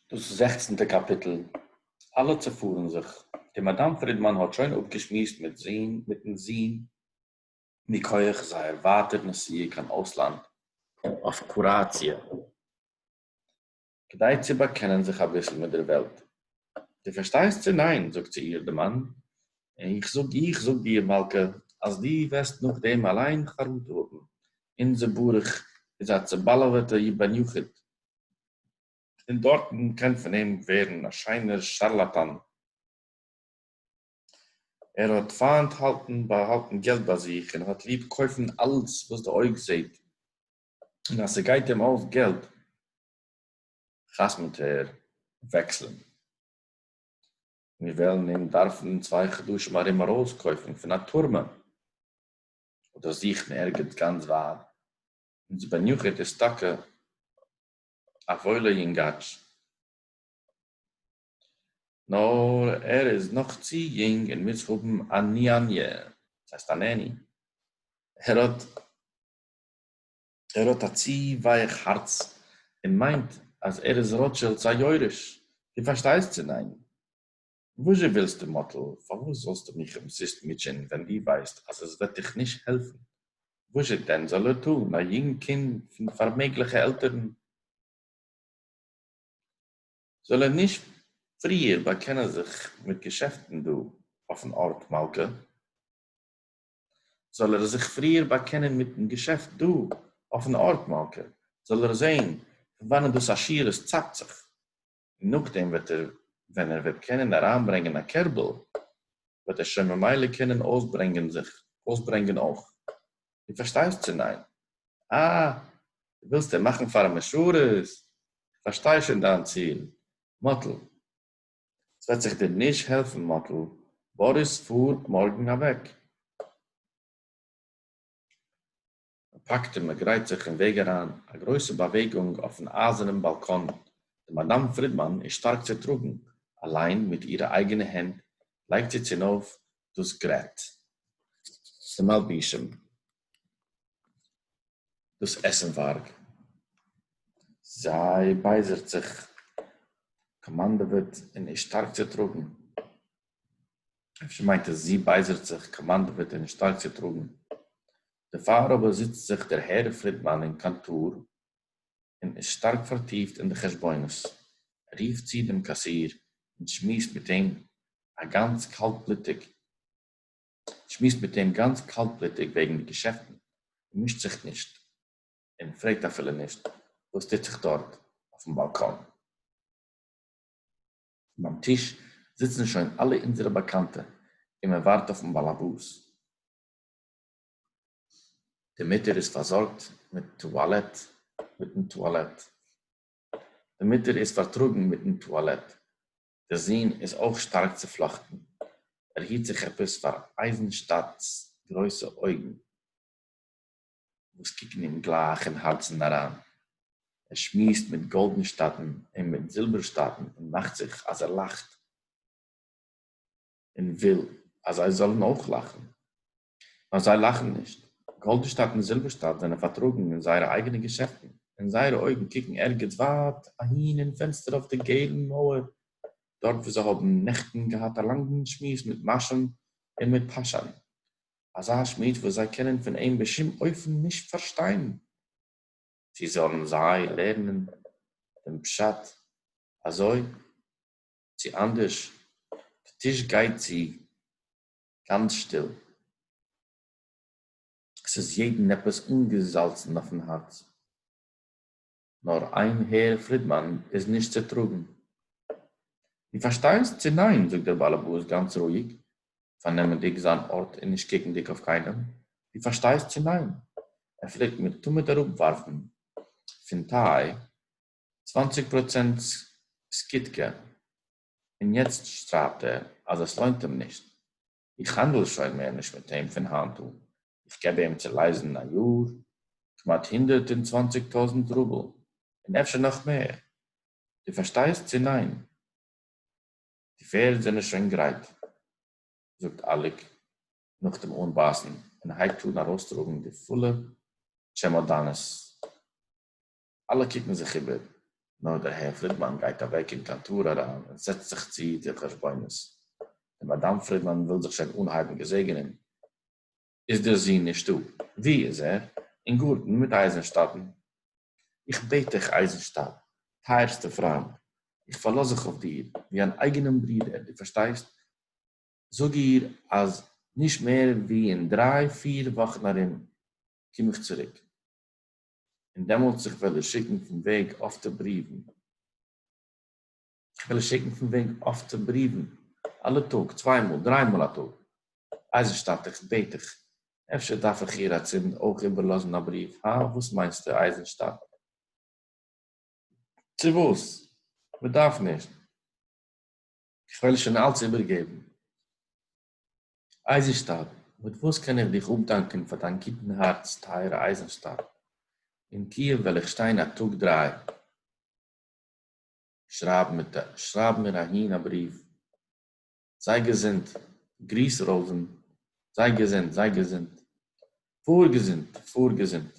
דאָס זעכצנטע קאַפּיטל. אַלע צעפֿאָרן זיך. די מאַדאַם פֿרידמאַן האָט שױן אָפּגעשמועסט מיט זין, מיטן זון, מכּוח זײער װײַטער נסיעה קײן אױסלאַנד אױף קוראַציע, כּדי צו באַקענען זיך אַ ביסל מיט דער װעלט. דו פארשטייסט צו ניין? זאגט צו איר די מאן, איך זאג, איך זאג דיר מלכה, אז דו וועסט נאכדעם אליין חרטה האבן, אונזער ברוך איז א צעבאלעוועטע בן יחיד, און דארטן קען פון אים ווערן א שיינער שארלאטאן, ער האט פיינט האלטן באהאלטן געלט ביי זיך, און האט ליב קויפן אלץ וואס די אויג זעט, און אז ס'גייט אים אויס געלט, חתמ'ט ער וועקסלען. מיר וועלן אים דארפן אין צוויי חדשים ארום ארויסקויפן פון א טורמע, אדער זוכן ערגעץ גאנץ ווייט, אונז בן יחיד איז טאקע א וואוילע יונגאטש, נאר ער איז נאך צו יונג און מוז האבן א ניאניע, דאס הייסט א נעני, ער האט ער האט א צו ווייעך הארץ און מיינט אז ער איז ראטשילד'ס א יורש, דו פארשטייסט צו ניין? וואזשע ווילסטו מאטל? פארוואס זאלסטו מיך אומזיסט מוטשען ווען דו ווייסט אז עס וועט דיך נישט העלפן? וואזשע דען זאל ער טון, א יונג קינד פון פארמעגליכע עלטערן? זאל ער נישט פריער באקענען זיך מיט געשעפטן דא אויפן ארט מלכה? זאל ער זיך פריער באקענען מיטן געשעפט דא אויפן ארט מלכא, זאל ער זעהן פון וואנען דאס עשירות צייגט זיך, און נאכדעם וועט ער ווען ער וועט קענען אריינברענגען א קערבל וועט ער שוין ממילא קענען אויסברענגען זיך אויסברענגען אויך, דו פארשטייסט צו ניין? אה, דו ווילסט אים מאכן פאר א משרת? איך פארשטיי שוין דיין ציל, מאטל. ס'וועט זיך דיר נישט העלפן מאטל, באריס פאר מארגן אוועק. מ'פאקט און מ'גרייט זיך אין וועג אריין, א גרויסע באוועגונג אויפן אייזערנעם באלקאן, די מאדאם פרידמאן איז שטארק צוטראגן, אליין מיט אירע אייגענע הענט לייגט זי צונויף דאס גרעט. די מלבישים. דאָס עסנװאַרג. זי בײזערט זיך, קאָמאַנדעװעט און איז שטאַרק צעטראָגן. אפֿשר מײנט עס, זי בײזערט זיך, קאָמאַנדעװעט און איז שטאַרק צעטראָגן. דערפֿאַר אָבער זיצט זיך דער הערר פֿרידמאַן אין קאָנטאָר און איז שטאַרק פֿאַרטיפֿט אין די חשבונות. ער רופֿט צו דעם קאַסיר און שמועסט מיט אים אַ גאַנץ קאַלטבלוטיק. שמועסט מיט אים גאנץ קאלטבלוטיג וועגן די געשעפטן און מישט זיך נישט און פרעגט אפילו נישט וואס טוט זיך דארט אויפן באלקאן. ביים טיש זיצן שוין אלע אונזערע באקאנטע און מען ווארט אויפן באלעבאס. די מוטער איז פארזארגט מיט טואלעט מיטן טואלעט. די מוטער איז פארטראגן מיטן טואלעט. דער זון איז אויך שטארק צופלאכטן, ער היט זיך עפעס פאר אייזנשטאדט'ס גרויסע אויגן וואס קוקן אים גלייך אין הארצן אריין, ער שמועסט מיט גאלדנשטאטן און מיט זילבערשטאטן און מאכט זיך אז ער לאכט און וויל אז זיי זאלן אויך לאכן. נאָר זיי לאַכן נישט. גאָלדענשטאַט און זילבערשטאַט זענען פֿאַרטראָגן אין זייערע אייגענע געשעפֿטן, און זייערע אויגן קוקן ערגעץ ווײַט אַהין אין פֿענצטער אויף דער געלן מויער, דאָרט וווּ זיי האָבן נעכטן געהאַט אַ לאַנגן שמועס מיט מאַשען און מיט פּאַשאַן, אַזאַ שמועס, וואָס זיי קענען פֿון אים בשום-אופֿן נישט פֿאַרשטיין. צי זאָלן זיי לערנען דעם פּשט אַזוי, צי אַנדערש, דער טיש גייט צו, גאנץ שטיל. עס איז יעדן עפעס אנגעזאלצן אויפן הארץ. נאר איין הער פרידמאן איז נישט צו טראגן. דו פארשטייסט צו ניין? זאגט דער באלעבאס גאנץ רואיג, פארנעמענדיג זיין ארט און נישט קוקנדיג אויף קיינעם. דו פארשטייסט צו ניין? ער פלעגט מיר תמיד אראפווארפן פון טיי צוואנציג פראצענט סקידקע. און יעצט שרייבט ער אז עס לוינט אים נישט, איך האנדל שוין מער נישט מיט אים פון היינט אן, איך געב אים צו לייזן א יאר כמעט הונדערט און צוואנציג טויזנט רובל, און אפשר נאך מער, דו פארשטייסט צו ניין? די פערד זענען שוין גרייט, זאגט אליק נאך דעם אנבייסן און הייבט אן ארויסטראגן די פולע טשעמאדאנעס. אַלע קוקן זיך איבער. נאָר דער הער פֿרידמאַן גײט אַװעק אין קאַנטאָר אַרײַן און זעצט זיך צו די חשבונות. די מאַדאַם פֿרידמאַן װיל זיך שױן אָנהײבן געזעגענען, איז דער זון נישטאָ. װוּ איז ער? אין גאָרטן מיט אײַזנשטאַטן. איך בעט דיך, אײַזנשטאַט, טײַערסטער פֿרײַנט, איך פֿאַרלאָז זיך אױף דיר, װי אַן אײגענעם ברודער, דו פֿאַרשטײסט, זאָג איר, אַז נישט מער װי אין דרײַ-פֿיר װאָכן אַרום קום איך צוריק. און דעמאָלט איך װעל איר שיקן פֿון װעג אָפֿטע בריװן. איך װעל איר שיקן פֿון װעג אָפֿטע בריװן, אַלע טאָג, צװײ מאָל, דרײַ מאָל אַ טאָג. אײַזנשטאַט, איך בעט דיך, אפֿשר דאַרף איך איר אַצינד אױך איבערלאָזן אַ בריװ, האַ? װאָס מײנסטו, אײַזנשטאַט? צי װאָס? מע דאַרף נישט. איך װעל איר שױן אַלץ איבערגעבן. אייזנשטאדט, מיט וואס קען איך דיך אפדאנקען פאר דיין גוטן הארץ טייערע אייזנשטאדט? אין קיעוו וועל איך שטיין א טאג דריי, שרייב מיט א שרייב מיר אהין א בריוו, זיי געזונט, גריס ראובן, זיי געזונט, זיי געזונט, פאר געזונט, פאר געזונט.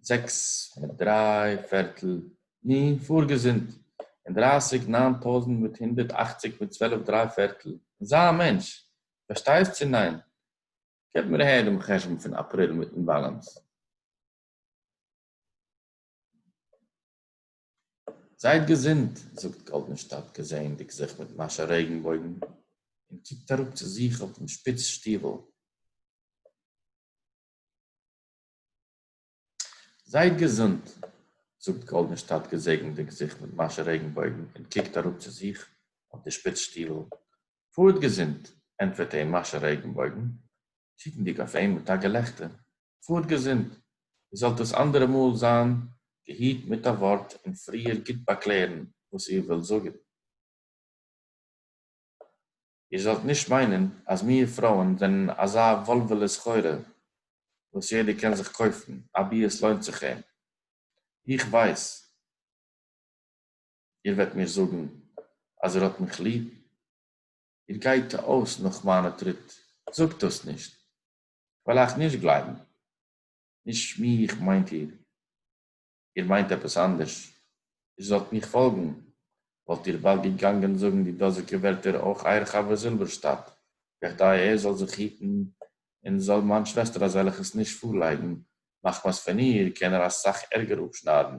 זעקס מיט דריי פערטל, נו, פאר געזונט, און דרייסיג ניין טויזנט מיט הונדערט אכציג מיט צוועלף דריי פערטל, און זיי א מענטש, פארשטייסט צו ניין? געב מיר אהער דעם חשבון פון אפריל מיטן באלאנס. זייט געזונט, זאגט גאלדענשטאט געזעענדיג זיך מיט מאשע רעגנבויגן, און קוקט אראפ צו זיך אויפן שפיץ שטיוול. זייט געזונט! זאגט גאלדענשטאט געזעגנדיג זיך מיט מאשע רעגנבויגן און קוקט אראפ צו זיך אויף די שפיץ שטיוול. פארט געזונט! ענטפערט אים מאשע רעגנבויגן, קוקנדיג אויף אים מיט א געלעכטער. פארט געזונט! איר זאלט דאס אנדערע מאל זיין געהיט מיט א ווארט און פריער גוט באקלערן וואס איר ווילט זאגן. איר זאלט נישט מיינען אז מיר פרויען זענען אזא וואלוועלע סחורה וואס יעדער קען זיך קויפן אבי עס לוינט זיך אים. איך ווייס איר וועט מיר זאגן אז איר האט מיך ליב, איר גייט אויס נאך מיינע טריט, זאגט דאס נישט, כ'וועל אייך נישט גלייבן, נישט מיך מיינט איר. איר מיינט עפּעס אַנדערש? איר זאָלט מיך פֿאָלגן, וואָלט איר באַלד געגאַנגען זאָגן די דאָזיקע ווערטער אויך אײַער חבֿר זילבערשטאַט, כּדי ער זאָל זיך היטן און זאָל מײַן שוועסטער אַזעלכעס נישט פֿאָרלייגן, מחמת פֿון איר קען ער אַ סך ערגער אָפּשנײַדן,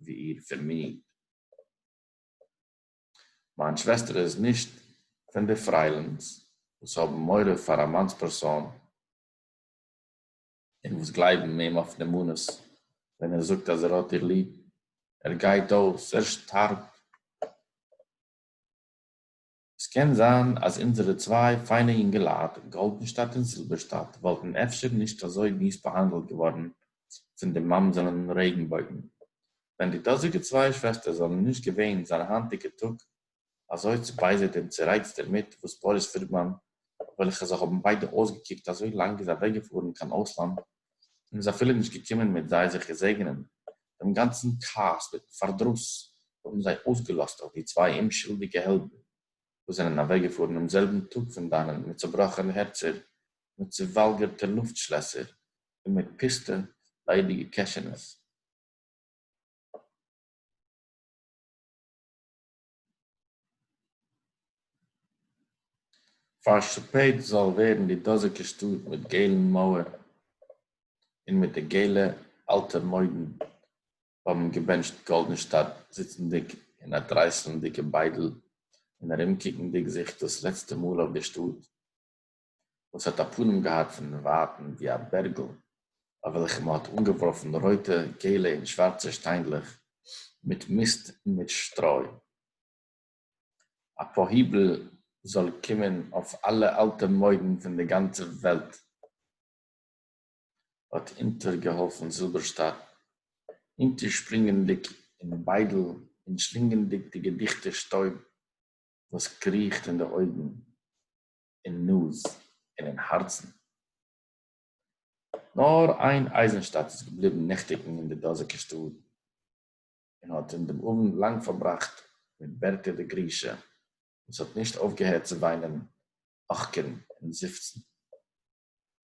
ווי איר פֿון מיר. מײַן שוועסטער איז נישט פֿון די פֿריילינס, וואָס האָבן מורא פֿאַר אַ מאַנס פּערסאָן. און וואס גלייבן אים אויף נאמנות ווען ער זאגט אז ער האט איר ליב, ער גייט אויס, ער שטארבט. עס קען זיין אז אונזערע צוויי פיינע יונגעלייט, גאלדענשטאט און זילבערשטאט, וואלטן אפשר נישט אזוי מיס באהאנדלט געווארן פון די ממזרים רעגנבויגן, ווען די דאזיגע צוויי שוועסטער זאלן נישט געווען זיין היינטיגע טאג אַזױ צעבײזערט און צערײצט דערמיט, װאָס באָריס פֿרידמאַן, װעלכע זײ האָבן בײדע אױסגעקוקט, אַזױ לאַנג איז אַװעקגעפֿאָרן קײן אױסלאַנד און איז אַפֿילו נישט געקומען מיט זײ זיך געזעגענען, דעם גאַנצן כּעס מיטן פֿאַרדראָס האָבן זײ אױסגעלאָזט אױף די צװײ אומשולדיקע העלדן, װאָס זענען אַװעקגעפֿאָרן דעם זעלבן טאָג פֿון דאַנען מיט צעבראָכענע הערצער, מיט צעװאַלגערטע לופֿטשלעסער און מיט פּוסטע, לײדיקע קעשענעס. פארשפעט זאל ווערן די דאזיגע שטאט מיט געלן מויער און מיט די געלע אלטע מוידן האבן געבענטשט גאלדענשטאדט זיצנדיג אין א טרייסלנדיגע ביידל און ארומקוקנדיג זיך דאס לעצטע מאל אויף די שטאט. וואָס האָט אַ פּנים געהאַט פֿון ווײַטן ווי אַ בערגל, אויף וועלכן מע האָט אָנגעוואָרפֿן רויטע, געלע און שוואַרצע שטיינדלעך מיט מיסט און מיט שטרוי. אַ פּאָהיבל זאָל קומען אויף אַלע אַלטע מוידן פֿון דער גאַנצער וועלט! האָט אונטערגעהאָלפֿן זילבערשטאַט, אונטערשפּרינגענדיק אין ביידל און שלינגענדיק די געדיכטע שטויב, וואָס קריכט אין די אויגן. אין נאז און אין הארצן. נאר איין אייזנשטאט איז געבליבן נעכטיגן אין די דאזיגע שטוב, און האט אין דעם אוונט לאנג פארבראכט מיט בערטע די גרישע, וואס האט נישט אויפגעהערט צו וויינען, אכקערן און זיפצן.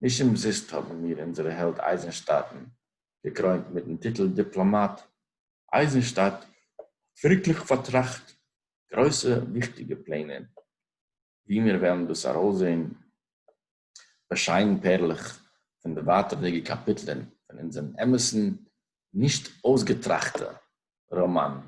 נישט אומזיסט האבן מיר אונזערע העלד אייזנשטאטן געקרוינט מיטן טיטל דיפלאמאט. אייזנשטאט האט ווירקליך פארטראכט גרויסע וויכטיגע פלענער, ווי מיר וועלן דאס ארויסזען באשיינט פערלעך פון די ווייטערדיגע קאפיטלען פון אונזערן אמת'ן נישט אויסגעטראכטע ראמאן.